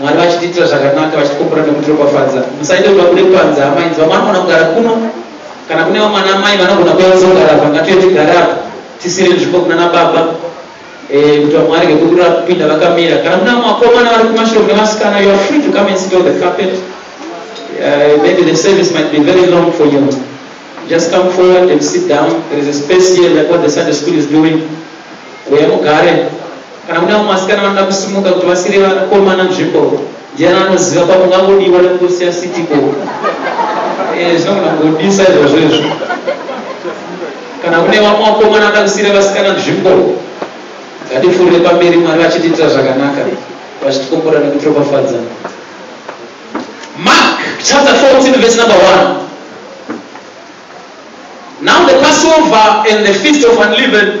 Mwari vachitiitira zvakanaka vachitikombora nekutiropafadza. Musaite kuda kune panza amai nzwa mwana unogona kugara kuno kana kune vamwana amai vanogona kuya kuzogara apa ngatiye tigare apa tisire nzvimbo kunana baba eh, kuti vamwe varege kudura kupinda vakamira kana mune vamwe vakomana vari kumashure mune vasikana you are free to come and sit on the carpet uh, maybe the service might be very long for you just come forward and sit down there is a space here like what the sunday school is doing uye mugare Kana kune vamwe vasikana vanoda kusimuka kuti vasiire vanakomana nzvimbo, ndiani anoziva pamwe ungangodiwa nekutosiya city ko. Eh, zvinogona kungodisa izvozvo izvo. Kana kune vamwe vakomana vanoda kusiira vasikana nzvimbo, ngatifurire pamberi Mwari vachitiitira zvakanaka, vachitikomborera nekutiropafadza. Mark chapter 14 verse number 1. Now the Passover and the feast of unleavened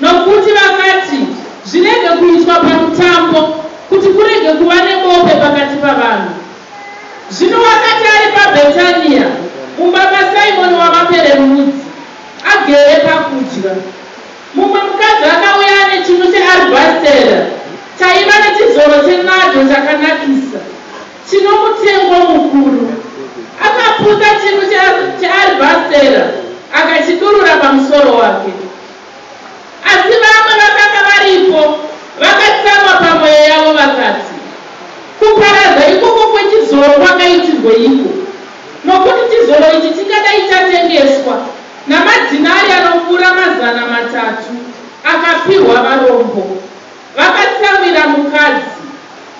Nokuti vakati, Zvirege kuitwa pamutambo, kuti kurege kuva nebope pakati pavanhu. Zvino wakati ari paBhetania, mumba maSimoni wamaperembudzi, agere pakudya, mumwe mukadzi akauya ane chinu chearubhastera chaiva nechizoro chenadho chakanakisa. Chino mutengo mukuru. Akaputa chinu chearibhastera akachidurura pamusoro wake. Asi vamwe vakanga varipo vakatsamwa pamwoyo yavo vakati, Kuparadza ikoko kwechizoro kwakaitirweiko? Nokuti chizoro ichi chingadai chatengeswa namadhinari anopfuura mazana matatu akapiwa varombo. Vakatsamwira mukadzi.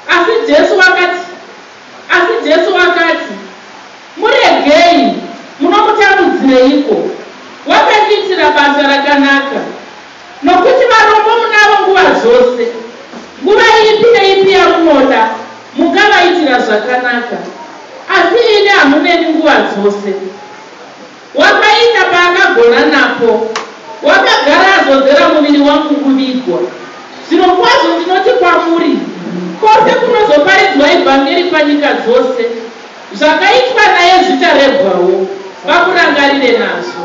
Asi Jesu vakati, Asi Jesu vakati, Muregei, munomutambudzireiko? Wakandiitira basa rakanaka. Nokuti varombo munavo nguva dzose. Nguva ipi neipi yamunoda, mungavaitira zvakanaka. Asi ini hamuneni nguva dzose. Wakaita paakagona napo. Wakagara azodzera muviri wangu kuvigwa. Zvirokwazvo ndinoti kwamuri, Kwose kunozoparidzwa ivhangeri panyika dzose, zvakaitwa naye zvicharebwawo, vamurangarire nazvo.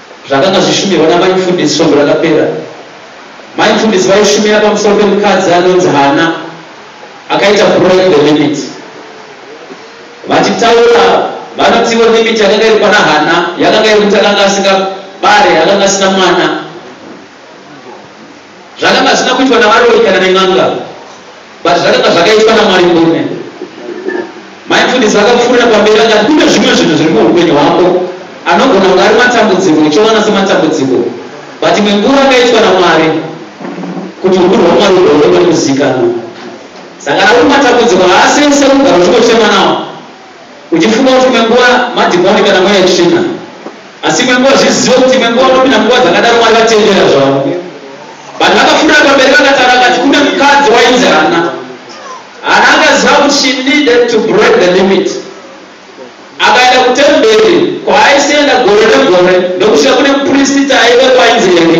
Zvakanga zvishumirwa naMai Mfundisi svondo rakapera. Mai Mfundisi vaishumira pamusoro pemukadzi anonzi Hana akaita break the limit. Vachitaura, vanotiwo limit yakanga iri pana Hana yakanga yekuti akanga asingabare, akanga asina mwana. Zvakanga zvisina kuitwa navaroi kana nen'anga but zvakanga zvakaitwa naMwari murume. Mai mfundisi vakapfuurira pamberi akati kune zvimwe zvinhu zviri muupenyu hwako anogona kunge ari matambudziko uchiona sematambudziko but imwe nguva akaitwa naMwari kuti ukuru hwaMwari hugoonekwa nekuzivikanwa. Saka ari matambudziko haasese kugara uchingochema nawo. Uchifunga kuti imwe nguva madhimoni kana mweya yetsvina. Asi imwe nguva zvizive kuti imwe nguva unopinda munguva dzakadaro Mwari vatendera zvavo. Vanhu vakafurira pamberi vakataura vakati kune mukadzi wainzi Hana. Hana akaziva kuti she needed to break the limit. Akaenda kutemberi kwaaisaenda gore negore ndokusvika kune mupristita aivepo ainzi Eri.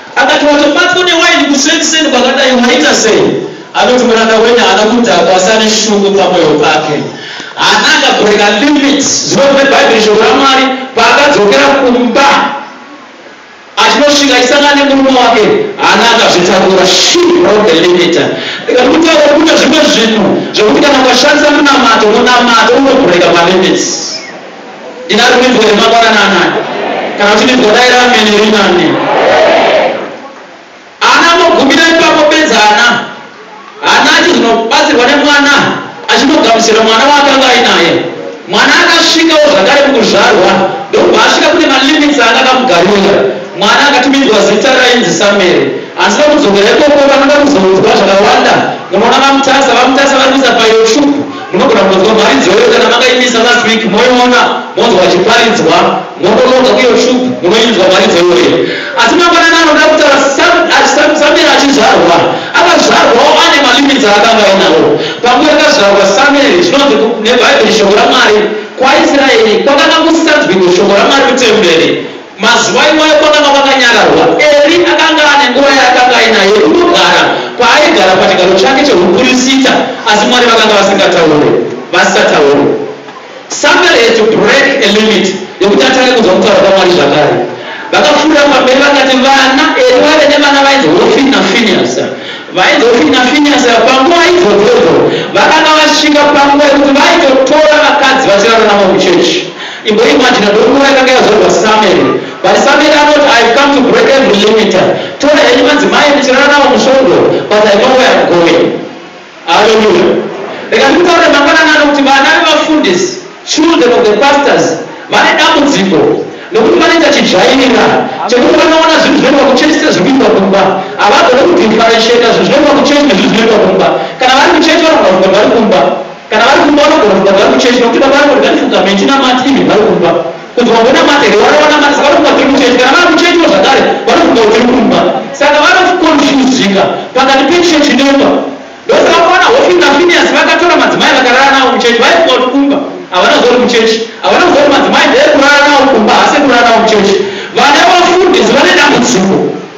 Akati, Watobatwa newaini kusekseni kwakadai, waita sei? Anoti, Muranda wenyu haana kudhakwa, asi ane shungu pamwoyo pake. Haana akabhureka limits. Zuva rimwe Bhaibheri, Shoko raMwari, paakadzokera kumba, achinosvika achisangana nemurume wake, haana akazvitakura. She broke the limit. Ndikati, Kutaura kwokuita zvimwe zvinhu, zvokuti kana ukashandisa munamato, munamato unobhureka malimits. Ndina rumbidzo here mangwanani anaya? Kana kuti ndinzwa dai ramene rinane. Ana mogumira ipapo bedzi ana hana achizonobatsirwa nemwana achinogamuchira mwana waakanga ainaye. Mwana akasvikawo zvakare mukuzvarwa ndokubva asvika kune malimits aanga akamugarira. Mwana akatumidzwa zita rainzi Samueri. Asi pakudzokera ikoko vanoda kuzoudzwa zvakawanda. Munoona VaMutasa, VaMutasa vari kuisa fayiro tsvuku. Munogona kunzwa mharidzo iyoyo kana makaimisa last week moiona monzwa vachiparidzwa modonoka uye shup munoinzwa mharidzo iyoyo asi mangwanani anoda kutaura Samuel achizvarwa akazvarwawo ane malimits aakanga ainawo panguva yakazvarwa Samuel zvinonzi neBhaibheri shoko raMwari kwaIsraeri kwakanga kusisanzwiko shoko raMwari mutemberi Mazuva iwayo kwakanga kwakanyararwa. Eri akanga ane nguva yaakanga ainayo yokunogara kwaaigara pachigaro chake chehupirisita, asi Mwari vakanga vasingataure, vasisataure. Samuel had to break a limit yekuti atange kunzwa kutaura kwaMwari zvakare. Vakapfuurira pamberi vakati, Vana, Eri waive nevana vainzi Hofini naFinehasi. Vainzi Hofini naFinehasi ava panguva idzodzo idzo vakanga vasvika panguva yekuti vaitotora vakadzi vachirara navo muchechi. Imboimaginer dofo yakanga yazvarwa Samuel but Samuel anoti I've come to break every limiter tora henyu madzimai muchirara nawo musvondo but I know where I'm going Hallelujah Rega ndikutaurire mangwanani ano kuti vana vevafundisi children of the pastors vane dambudziko nokuti vanoita chidzvairira chekuti vanoona zvinhu zvinoitwa kuchechi sezviri kuitwa kumba havagone kudifferentiata zvinhu zvinoitwa kuchechi nezvinhu zvinoitwa kumba kana vari kuchechi vanogona kuti vari kumba Kana vari kumba vanogona kunga vari kuchechi nokuti baba vanogona kuti ndanifunga me chinamati even vari kumba kuti vangonamata here vari vanamata saka vanofunga tiri kuchechi kana vari kuchechiwo zvakare vanofunga kuti tiri kumba saka vanokonfuzika pakati pechechi nemba ndosaka kuona hofi nafiniyasi vakatora madzimai vakarara navo kuchechi vaifunga kuti kumba havana zori kuchechi havana kuzori madzimai ndee kurara navo kumba hase kurara navo kuchechi vana vafundisi vane dambudziko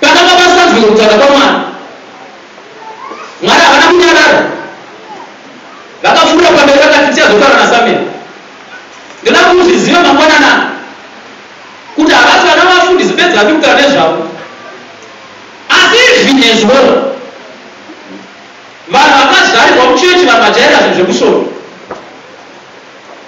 Pakanga pasanzwike kutaura kwaMwari. Mwari havana kunyarara. Vakapfuurira pamberi vakati, Tichazotaura naSamueri. Ndoda kuti uzvizive mangwanani ano kuti havasi vana vafundisi bedzi vatiri kutaura nezvavo. Asi izvi nezuro vanhu vakazvarirwa muchechi vakajaira zvinhu zvekushoma.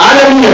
Haleluya.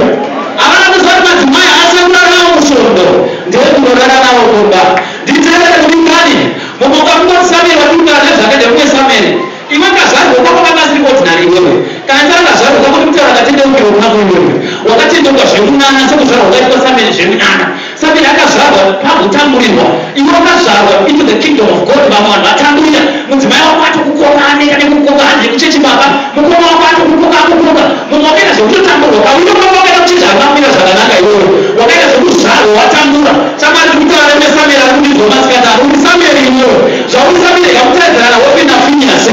Havana kuziva kuti madzimai haasi ekurara nawo musvondo, ndeekurorara nawo mumba. Nditevere kudikani, mumwe kwako unoti Samueri watiudza nezvakadya kumwe Samueri. Iwe kazvarwa kwako kakasiri ordinary iwewe. Kana ndisati ndazvarwa kwako ndikutaura katendeukiro kunako iwewe. Wakatendeuka zviri kunana sekuzvarwa kwaitwa Samueri zviri kunana. Saka yakazvarwa pakutamburirwa, iwe wakazvarwa into the kingdom of God. Vamwe vanhu vatamburira, mudzimai wako atokukoka, aneka nekukoka, hande kuchechi baba, mukoma wako atokukoka, akukoka. Mumwe wakaita zvekutotamburwa, kauyo baba wakaita kuti chinhu akamira zvakanaka, iwewe wakaita zvekuzvarwa watambura. Saka ari kutaura neSamueri, ari kundidzwa masikati, ari kuti Samueri, iwewe zvauri Samueri, yakutadzana hope naFiniyasi,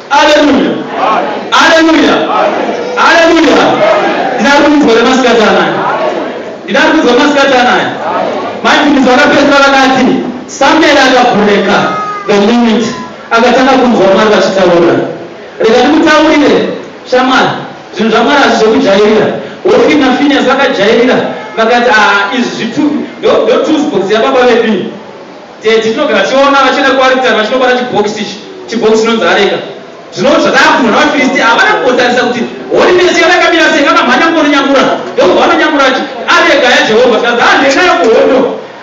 Aleluya. Aleluya. Aleluya. Ndida kunzwa remasikati anaya. Ndida kunzwa masikati anaya. Maibvunzo akapedzwa vakati Samuel akabhureka the moment akatanga kunzwa Mwari vachitaura. Rega ndikutaurire shamwari zvinhu zvaMwari hazvi zvekujairira. Hofini naFiniyasi vakajairira vakati ah izvi zvitupi ndo ndo tools box yababa vedu. Tete tinogara tichiona vachienda kuaritari vachinobata chibhokisi ichi, chibhokisi chinonzi areka. Zvino zvakaavhurwa navaFiristi ava, havana kumbotarisa kuti horinesi yavo yakamira sei. Vakamhanya kundorinyamura, ndokubva vanonyamura kuti, Areka yaJehovha. Zvikanzi, Haa, ndiyo inayo kuhondo.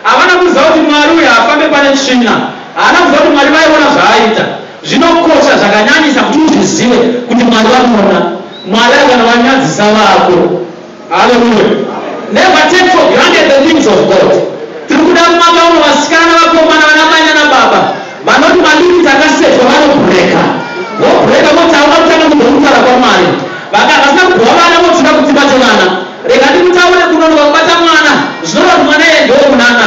Havana kuziva kuti Mwari uyu haafambe pane tsvina. Haana kuziva kuti Mwari vaiona zvaaita. Zvinokosha zvakanyanyisa kuti uzvizive kuti Mwari vanoona. Mwari akana vanyadzisa vako. Hallelujah. Never take for granted the things of God. Tiri kuda kumaka uno vasikana, vakomana, vanamai nanababa vanoti madikiti akasetwa vanobhureka. Vobhureka voti hauna kutanga kuzomutaura kwaMwari. Vaka vasina kubhuwa vana votsvaka kudzimba chevana. Rega ndikutaure kunonoka kubata mwana zvinoreva kuti mwana iye ndewomunana.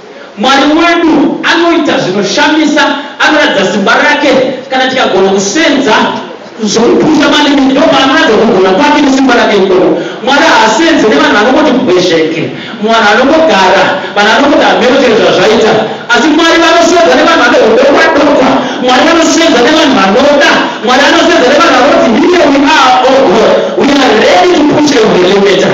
Mwari wedu anoita zvinoshamisa, anoratidza simba rake kana tikagona kusenza zvokupusha malimi ndopaanoratidza kugona kwake nesimba rake ikoko. Mwari haasenze nevanhu vanongoti bwezveke, muvanhu anongogara, vanhu vanongoti hameno chero zvazvaita. Asi Mwari vanosenza nevanhu vane hudokwa dokwa, Mwari vanosenza nevanhu vanoda, Mwari anosenza nevanhu vanoti here we are, oh God, we are ready to push every limiter.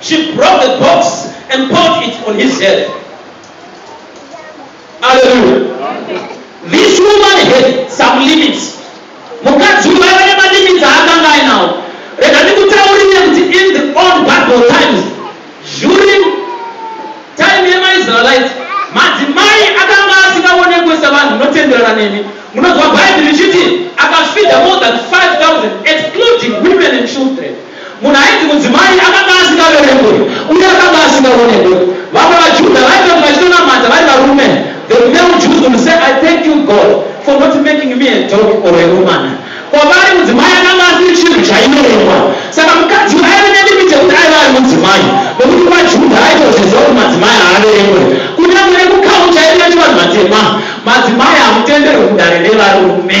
She brought the box and poured it on his head. Hallelujah. This woman had some limits. Mukadzi uyu vaiva nemalimits aakanga ainawo. Rega ndikutaurire kuti in the old Bible times, during time yemaIsraelite, madzimai akanga asingaonekwe sevanhu munotenderana nemi. Munonzwa Bhaibheri richiti akafidha more than 5,000 excluding women and children. Munhu ainzi mudzimai akanga asingaverengwe uye akanga asingaonekwe. Vamwe vaJudha vaitoti vachitonamata vari varume, the male Jews would say, I thank you, God, for not making me a dog or a woman. Kwavari mudzimai akanga asiri chinhu chaiverengwa. Saka mukadzi uyu aive nelimit yekuti aive ari mudzimai nokuti vaJudha aitozviziva kuti madzimai haaverengwe. Kunyange nekukaunta yedu yechivanhu vatema, madzimai hamutenderwe mudare revarume.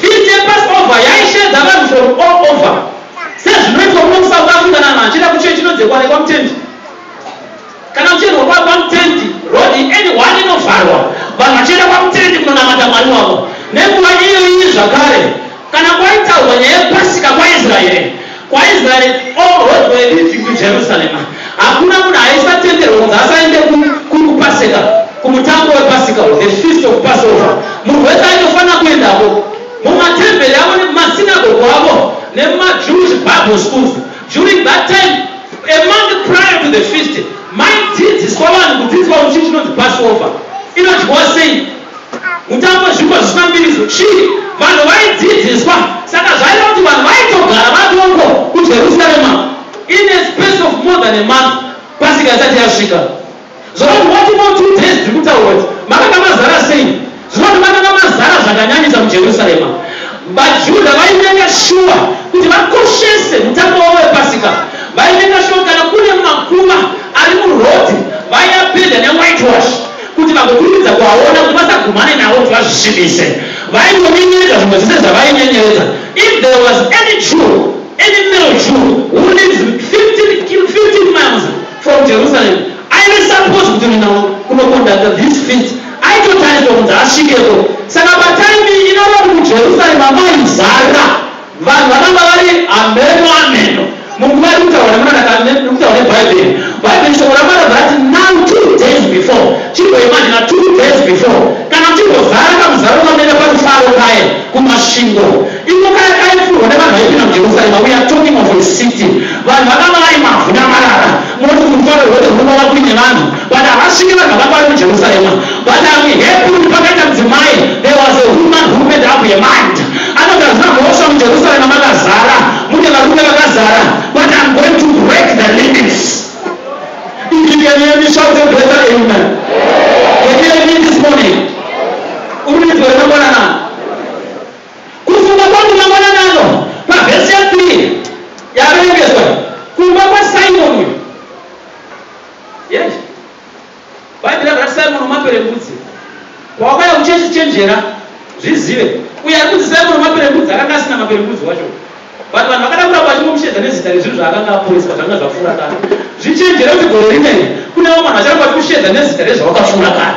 Feast yePassover yaisheedza vanhu from all over sezvinoitwa kuno kuSouth Africa navanhu vachienda kuchurch inodzekwa nekwamutendi kana kuchiendwa kwa kwamutendi road any one inovharwa vanhu vachienda kwamutendi kunonamata Mwari wavo nenguva iyoyi zvakare kana kwaitaurwa nyaya yePasika kwaIsraeri KwaIsraeri, O hondo yeBinzi kuJerusarema! Hakuna munhu aisatenderwa kunzi asaende ku, kuri kuPaseka, kumutambo wePasika, uyu, the feast of Passover. Munhu wese aitofanira kuendako. Mumatemberi avo nemumasinagogo avo nemumaJewish Bible schools during that time, a month prior to the feast, maidzidziswa vanhu kudzidziswa kuti chii chinonzi Passover, inodyiwa sei. Utambwe zvipo zvisina mbiriso chii vanhu vaidzidziswa saka zvaida kuti vanhu vaitogara vadoko kuJerusarema in a space of more than a month pasika isati yasvika zvoroti what more two days tiri kutaura kuti makanga mazara sei zvinoti makanga mazara zvakanyanyisa muJerusarema vaJudha vaimeka shuwa kuti vakoshese mutambo wavo wepasika vaimeka shuwa kana kune makuva ari muroad vaiapenda newhitewash kuti vagokurumidza kuvaona kuti vasagumane navo kuti vazvisvibise. Vaingonyenyeredza zvimwe zvese zvavainyenyeredza. If there was any Jew, any male Jew who lives 15 kil, 15 miles from Jerusalem, aive supposed kuti kuenda kunoconducta these feasts aitotarisirwa kunzi asvikeko. Saka patime iyi inoreva kuti muJerusalem maizara. Vanhu vanonga vari hameno hameno munguva iri kutaura nemunana iri kutaura neBhaibheri. Bhaibheri shoko raMwari rabva rati now two days before chimboimajina two days before kana kuchimbozara kamuzaro kanoenda parufaro paye kuMasvingo iko kaya kaifurwa nevanhu vaipinda muJerusarema we are talking of a city vanhu vakanga vari mavhu namarara moti rufaro rwoti rwunova kuine vanhu But havasvike vanhu vakwari muJerusarema but I'm happy kuti pakaita mudzimai there was a woman who made up her mind anoti hazvina mhosva muJerusarema makazara mune varume vakazara but I'm going to break the limits Ikinyani yemi shout a greater amen Can you hear me this morning? Urinzwe remangwanana kufunga kwangu mangwananano pavhesi ya 3 yaverengezwa kumba kwaSimoni Yes. Bhaibheri rakati Simon wemaperembudzi pawakauya kuchechi chenjera zvizive uye ari kunzi Simon wemaperembudzi akanga asina maperembudzi wacho but vanhu vakada kuramba vachingomushedza nezita rezvinhu zvaakanga aporeswa zvanga zvapfuura kare zvichenjera kuti gore rino iri kune vamwe vanhu vacharamba vachikushedza nezita rezvawakapfuura kare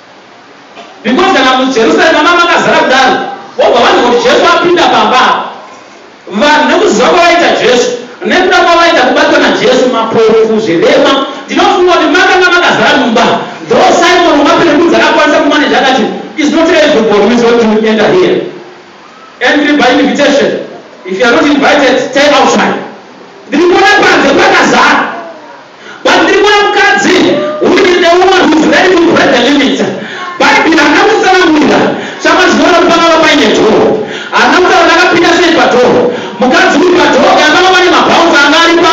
Because kana muJerusalema manga makazara kudaro wobva wanzwa kuti Jesu apinda pamba apa. Vanhu nekuziva kwavaita Jesu nekuda kwavaita kubatwa naJesu mapofu, zvirema ndinofunga kuti makanga makazara mumba. Though Simon wemaperembudzi akakwanisa kumaneja akati is not everybody who is going to enter here. Entry by invitation. If you are not invited, stay outside. Ndiri kuona panze pakazara. Kwandiri kune mukadzi who is a woman who is ready to break the limits. Bhaibheri harina kutsanangurira chamazviona pangava paine dhoo. Harina kutaura kuti akapinda sei padhoo. Mukadzi uyu padhoo kana panga pane mabouncer anga aripo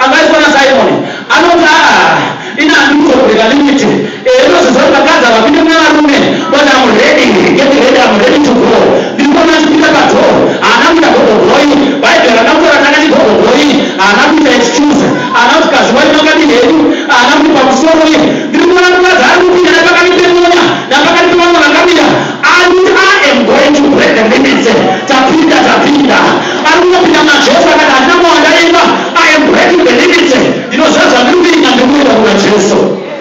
akaiswa naSimoni. Anoti, Aah, ini handiri kuzobreaker limit. Ehe ndozviziva kuti vakadzi havapinde muna varume but I'm ready get ready I'm ready to go ndiri kuona achipinda padoor haana kuita gogo boy bhaibheri harina kutaura kuti akati gogo boy haana kuita excuse haana kuti kaziwai makadini hedu haana kuti pamusoro uye ndiri kuona mukadzi ari kupinda nepakati pemona napakati pevamwe vakamira ari kuti I am going to break the limits tapinda tapinda ari kungopinda muna Jesu akati handina mawanda imba I am breaking the limits ndinoziva zvandiri kuita ndiri kuenda kuna Jesu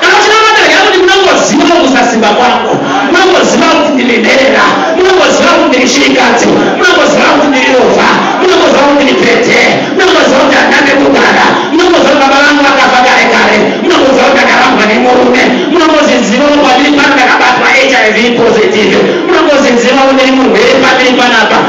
Kana uchinamata regamuti munongozivawo kusasimba kwangu, munongozivawo kuti ndine nherera, munongozivawo kuti ndiri shirikadzi, munongozivawo kuti ndiri rovha, munongozivawo kuti ndiri pete, munongozivawo kuti handina pekugara, munongozivawo kuti baba vangu vakafa kare kare, munongozivawo kuti ndakarambwa nemurume, munongozizivawo pandiri pano ndakabatwa hiv positive, munongozizivawo ndiri murwere pandiri panapa,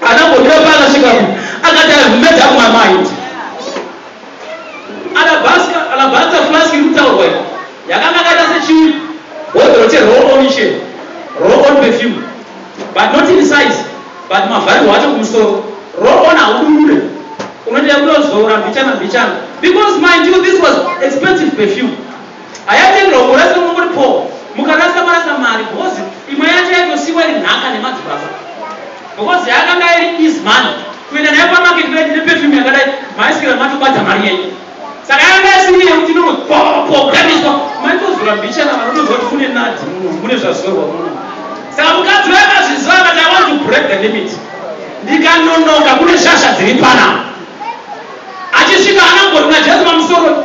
Anambomira paaka svika ku akati I've made up my mind. Alabanza, alabanza flask iri kutaurwa iyi yakanga akaita sechibhodhoro che roll on che roll on perfume but not in size but mavharirwo acho kumusoro roll on haudurure unoita kutozora mbichana mbichana because mind you this was expensive perfume Hayatenderwa kumurasira mungori poor mukarasa marasa mari because imwe yacho yaitosiiwa iri nhaka nemadzibaba because yakanga iri easy money kuenda nayo pamarket kudai ndine perfume yakadai maisikira matobata mari yenyu saka yakanga yasiri yekuti inongopoganiswa maitozora mbichana vanotoziva kuti mune nadi muno mune zvazorwa muno saka mukadzi vakazviziva akati i want to break the limit ndikanonoka kune shasha dziri pana achisvika anangori najesu pamusoro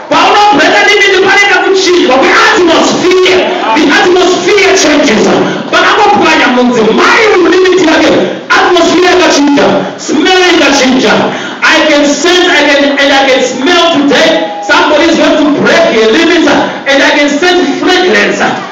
Paunobhema dindindi panoita kuchinjwa kweatmosphere. The atmosphere changes. Pakangopwanya mudzimai uyu limit yake, atmosphere yakachinja, smell ikachinja. I can sense I can, and I can smell today somebody is going to break a limit and I can sense fragrance.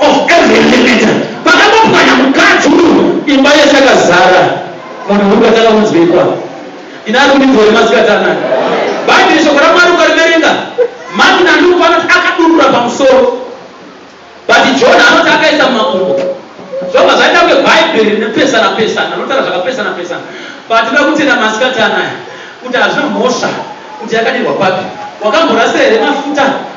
of every limiter pakangopwanya mukadzi uyu imba yese yakazara munhu murume atanga kunzwikwa ini ari kundidzwa nemasikati anaka bhaibheri shoko ramwari ukariverenga mati nanduku anoti akadurura pamusoro but john anoti akaisa mumakumbo zvobva zvaita kunge bhaibheri nepesana pesana anotaura zvakapesana pesana but inoda kutenda masikati anaya kuti hazvina mhosva kuti yakadirwa papi wakamborasa here mafuta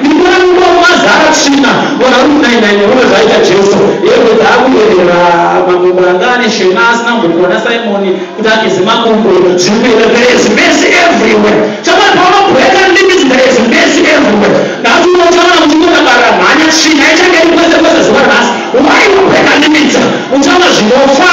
Rimwe nguva mazara tsvina vona kuti nai nai neone zvaita Jesu hembe dzaakuyerera mamwe muranga ane shema asina mbokuona Simon kuti ageze makumbo zviri kuyera there is mercy everywhere chamwana paona breaker limits there is mercy everywhere nhasi uno uchaona kuti unodakara mhanya tsvina ichange iri kwese kwese zuva nhasi why you breaker limits uchaona zvinofa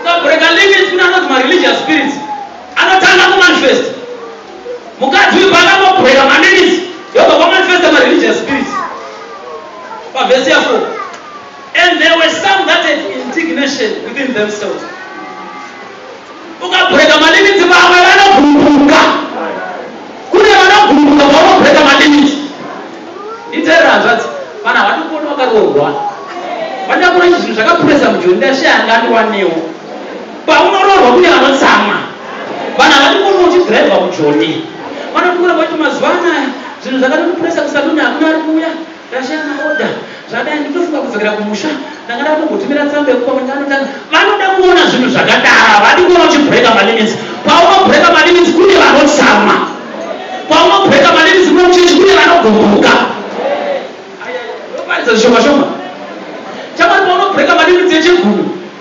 ukabreaker limits kune anonzi mareligious spirits anotanga kumanifest mukadzi uyu paakambobreaker malimits yobva kwamanifesta mareligious spirits pavhesi ya 4 and there were some that had indignation within themselves Ukabreaker malimits vamwe vanogurupuka. Kune vanogurupuka paunobreaker malimits. Nditeerere hanzvadzi, vanhu havatomboni vakaroorwa. Pandakura izvi zvinhu zvakapuresa mujoni ndashaya anga andiwanewo. Paunoroorwa kune vanotsamwa. Vanhu havatomboni uchidriver mujoni. Vanoti kune voti mazuva anaya zvinhu zvakatotipuresa kusaluni hakuna ari kuuya. Ndashaya maorder zvadai ndinofunga kudzokera kumusha ndanga ndatombotumira tsamba yekupa mwenye vanotanga vanoda kuona zvinhu zvakadaro havadi kuona uchibreaka malimits paunobreaka malimits kune vanotsamwa paunobreaka malimits kune muchechi kune vanogumbuka ayaa oparidza zvishoma shoma chamari paunobreaka malimits echegumi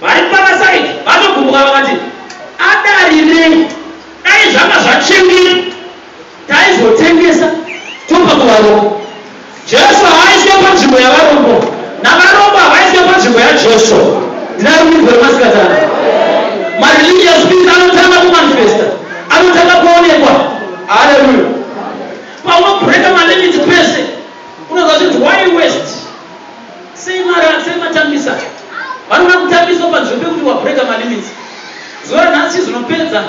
Vari kwana Said vanogumbuka vakati, Adarirei? Dai zvanga zvachembera taizotengesa topa kuvarombo. Jesu haaiswe panzvimbo yavarombo navarombo havaiswe panzvimbo yaJesu. Ndina runyirwo remasikatana. Mareligious spirit anotanga kumanifesta, anotanga kuonekwa. Haleluya. Paunobreaker malimits pese unonzwa kuti why west? Sei mara sei matambisa vanoda kutambiswa panzvimbo pekuti wabreaker malimits zuva ranhasi chizvinopedza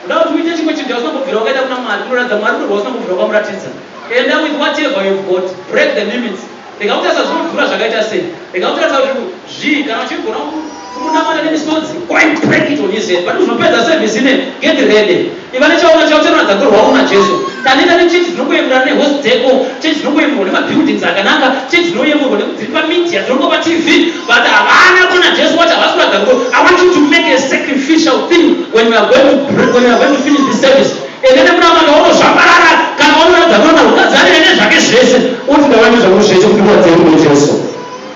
uda kuti uite chimwe chinhu chausina kubvira wakaita kuna mwari unoratidza mwari kuti rwausina kubvira wakamuratidza enda with whatever you've got break the limits rega kutarisa zvinodhura zvakaita sei rega kutarisa kuti zvii kana uchigona kumunamata nemisodzi while crack it on his head but uzopedza service ine get ready iva nechaona chavo chanoratidza kuti rwaona jesu taneta nechechi dzinokoyemurana nehost deko chechi dzinokoyemurwa nemabuildings akanaka chechi dzinoyemurwa nekudziri pamedia dzinongo patv but havana kuona jesu wacho havasi kuratidza kuti i want you to make a sacrificial thing when you are going to, when you are going to finish this service ende nemunamata unozvambarara kana wanoratidza kuti anoda kugadzirira nezvake zvese uti ndawane zvangu zvese kuti ndiratidze kuti jesu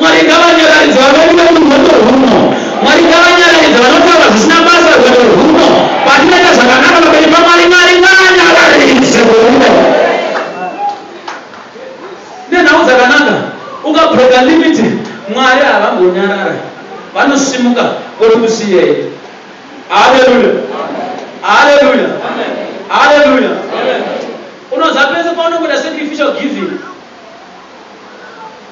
Mwari ngavanyararidze vavengi vedu rwendo rwuno. Mwari ngavanyararidze vanotaura zvisina basa rwendo rwuno. Patinoita zvakanaka pamberi paMwari, Mwari ngaanyararidze rwendo. Nenhau dzakanaka, ukabreaker limit, Mwari havambonyarara. Vanosimuka voti kusiyei. Haleluya. Haleluya. Haleluya. Unoziva pese paunongoita sacrificial giving.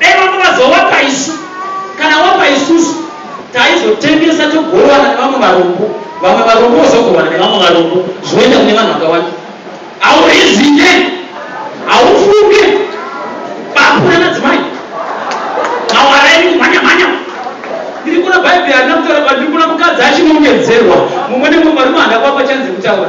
Dai vamwe vazowapa isu kana wapa isusu taizotengesa togowana nevamwe varombo vamwe varombo vozogowana nevamwe varombo zvoenda kune vanhu vakawanda haurizine haufunge bakura nadzimai mawara iri kumhanyamhanya ndiri kuna bhaibheri harina kutaura kwandiri kuna mukadzi achinongedzerwa mumwe nemumwe varume handa kwapa chanzi kutaura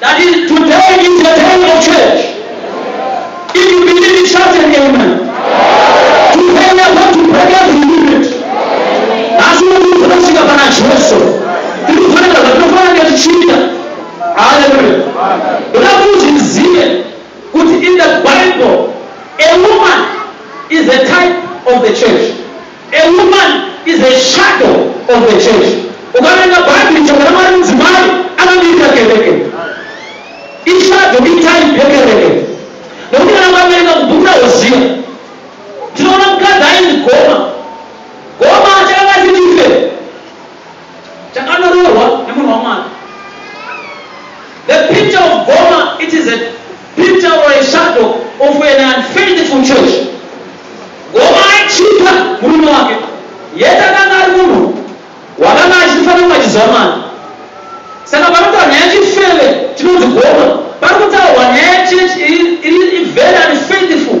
That is today is the day of church. If you believe it, shout an amen. Today we are going to break every limit. Asi unokuti unosvika pana Jesu. Tiri kufanira zvatinofanira kunge tichiita. Hallelujah. Ndoda kuti uzvizive kuti in the Bible a woman is a type of the church. A woman is a shadow of the church. Ukaverenga bhaibheri shoko ramwari mudzimai akamirira kereke. Ishadow itype yekereke. Nokuti kana ukaverenga mubhuku rahoziya tinoona mukadzi ainzi goma. Goma achakanga asiri ife. Chakanyorohwa nemunhu waMwari. The picture of Goma, it is a picture or a shadow of an unfaithful church. Goma aichipa murume wake, yet akanga ari munhu wakanga achifanira kunge achiziva Mwari. Saka panotaura nyaya yechifeve chinonzi Goma, pari kutaurwa nyaya yechechi iri very unfaithful.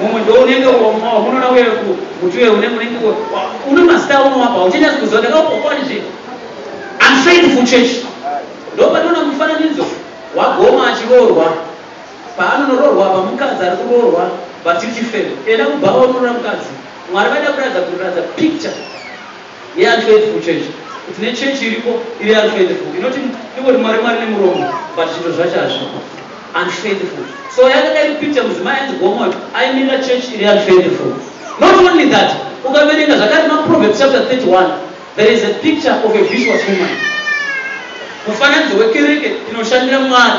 mumwe ndounenge unona uye muti uye unenge unenge une mazita aunovapa hauchanyazi kuziva ndakaupokwa ndizve I'm trying for church ndopatoona mufananidzo wagoma achiroorwa paanonoroorwa pamukadzi ari kuroorwa but you can fail enda kubhawa unorora mukadzi mwari vaida kuratidza kuratidza picture Yeanhledvu church kuti ne church iripo iri anhledvu inoti ingoti mwari mwari nemuromo but zvinto zvacho hazvipo anhledvu so yakadai kupicture mudzimai anzi Gomot aimirira church iri anhledvu not only that ukaverenga zvakare ma Proverbs chapter 31 there is a picture of a vicious woman mufananidzo wekereke inoshandira mwari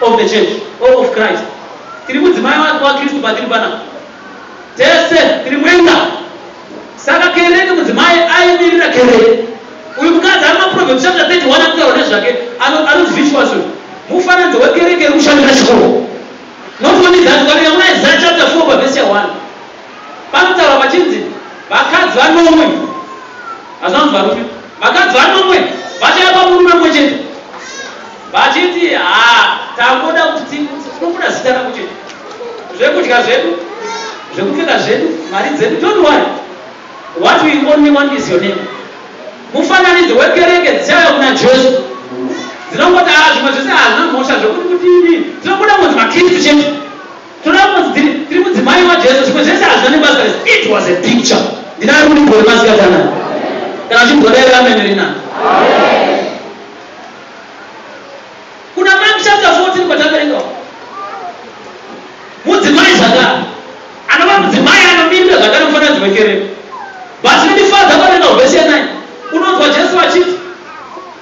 of the church or of Christ tiri mudzimai wa Kristu patiri panapa tese tiri mwenga saka kereke mudzimai aimirira kereke uyu mukadzi ari maproverbs chapter 31 akutaura nezvake anonzi visuason mufananidzo wekereke iri kushandira chikoro not only that ukaverenga muna isaya chapter 4 pavhesi ya 1 panotaura vachinzi vakadzi vanomwe hazvanzi varume Vakadzi vanomwe vachauya pamurume mumwe chete vachiti haa tangoda kuti tinobuda zita rako chete, zvekudya zvedu, zvekupfeka zvedu, mari dzedu, don't worry what we only want is your name. Mufananidzo wekereke dzichauya kuna Jesu dzinongoti haa zvimwe zvese hazvina mhosva zvekuti kudini, tinobuda kunzi maKristu chete. Tinoda kunzi tiri tiri mudzimai waJesu, zvimwe zvese hazvina nebasa nesu. It was a picture. Ndinaro ruriko rwemasikati anaya. Kana uchinzwa dai ramene rinani. Kuna Mark chapter 14 kwataverenga uko. Mudzimai zvakare. Anova mudzimai anomirira zvakare mufananidzo wekereke. But chinondifadza paverenga verse 9. Unonzwa Jesu achiti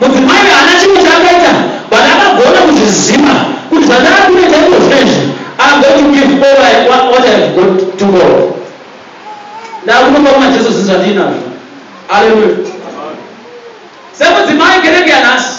Mudzimai uyu haana chimwe chaakaita but akagona kuzviziva kuti zvandava kunoita iko zvinezvi I'm going to give all I, what, what I have got to God. Ndava kunopa kuna Jesu zvinhu zvandiinazvo. Hallelujah. Semudzimai kereke yanhasi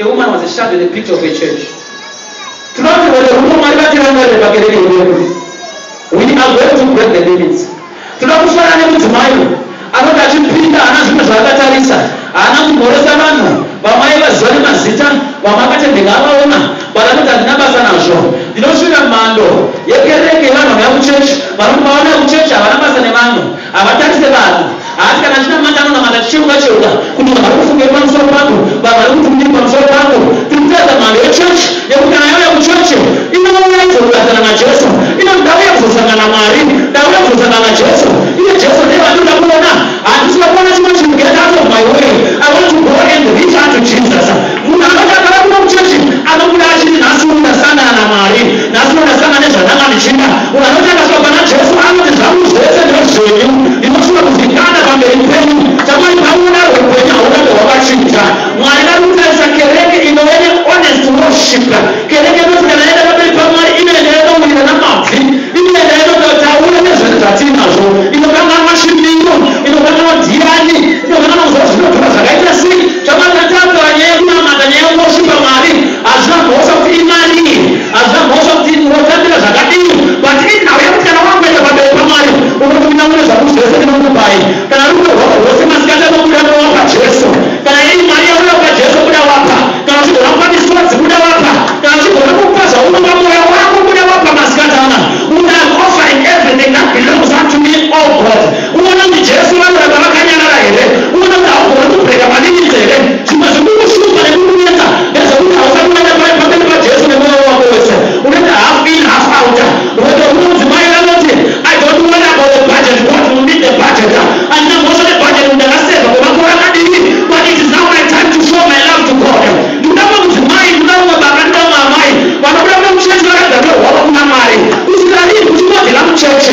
A woman was a shadow and a picture of a church. Tinofanirwa kuti rudo Mwari vatirangarire pakereke yedu. We are going to break the limits. Tinoda kufanana nemudzimai anoti achipinda haana zvimwe zvaakatarisa, haana kumhoresa vanhu, vamwe aivaziva nemazita, vamwe akatendeka avaona, but anoti handina basa nazvo. Ndinosvira mhando yekereke yevanhu vanouya kuchechi, vanoti pavanoya kuchechi havana basa nevanhu. Havatarise vanhu. Haati kana achinamata anonamata achicheuka cheuka kuti vanhu vari kufungei pamusoro pangu, vanhu vari kuti kudii pamusoro pangu. Tiri kutaridza mhando yechechi yekuti kana yauya kuchechi inouya izokugarisana naJesu. Inoti ndauya kuzosangana naMwari, ndauya kuzosangana naJesu. Iye Jesu ndiye vandinoda kuona. Handisi kuda kuona chimwe chinhu get out of my way. I want to go and reach unto Jesus. Munhu anoti akava kuno kuchechi anobuda achiti nhasi uno ndasangana naMwari, nhasi uno ndasangana nezvandanga ndichida. Munhu anoti akasvika pana Jesu anoti zvangu zvese ndezvenyu, ndinofunga kuzikanda pamberi penyu. Tamari pamunoda rwekuhwenya haurambe hwakachinja. Mwari vari kutarisa kereke inove nehonest worshiper. Kereke inoti kana yaenda pamberi paMwari inoenda yonowira namabvi, inoenda yonotaura nezvinhu zvatiinazvo, inokanganwa chimiro, inokanganwa dhiyani, inokanganwa kuziva zvinotora zvakaita sei. Chamakatadza nyaya yekunamata nyaya yeworshipper Mwari hazvina kukosha kuti imani hazvina kukosha kuti unotambira zvakadii but inhau yekutyana wangu enda pamberi paMwari unoti munamune zvaku zvese ndinokupai kana rudo rwako rwose masikati anobuda nowapa Jesu kana iri mari yauya kupa Jesu buda wapa kana uchigona kupa misodzi buda wapa kana uchigona kupa zvaunopa mwoyo wako buda wapa masikati ana kuti I'm offering everything that belongs unto me oh God Unoona kuti Jesu vanoramba vakanyarara here? Unoona kuti haugoni kubreaker malimits here? Zvimwe zvikukushupa nekukunetsa ndezvekuti hausati waenda paye pamberi paJesu nemoyo wako wese. Unoita half in half out. Whether umwe mudzimai anoti I don't worry about the budget God will meet the budget. Handina mhosva nebudget kuti ndakaseva kwemakore akadii but it is now my time to show my love to God. Ndikuda umwe mudzimai, ndikuda umwe baba, ndikuda umwe amai vanobuda kuda muchechi vakagarira hwavo kuna Mwari. Kusvika riini uchingodyira muchechi?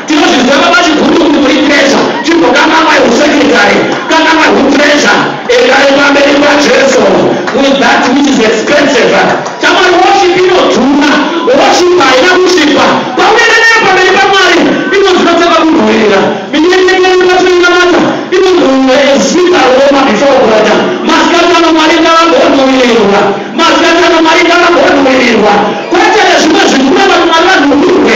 Tinozviziva baba chiguru kuti muri treasure chimbokangamwai husecretary kangamwai hutreasure endai pamberi paJesu with that which is expensive shamwari worship inodhura worship haina kusvipa paunoenda nayo pamberi paMwari inonzi inotanga kunhuwirira minyenyengo yedu patinoinamata inonzi munhu ezita roma before God masikati ano Mwari ngavambonhuwirirwa masikati ano Mwari ngavambonhuwirirwa kwete nezvimwe zvinhu kuramba kuti Mwari vanhuwirwe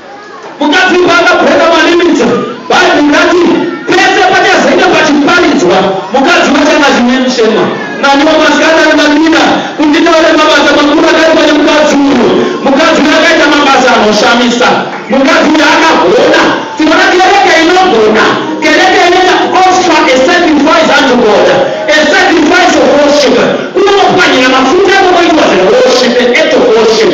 Mukadzi paakabhonga malimita, Bhaibheri rati, Pese pachazenge pachiparidzwa, mukadzi wacho anga achine mushema. Naniwo masikati ano ndadira kuti nditaure mabasa makuru akaitwa nemukadzi uyu. Mukadzi uyu akaita mabasa anoshamisa. Mukadzi uyu akagona. Tinoda kereke inogona, kereke inoita kuoffer a sacrifice unto God, a sacrifice of worship, kunopwanyira mafuta kunoitwa zveworship, an act of worship.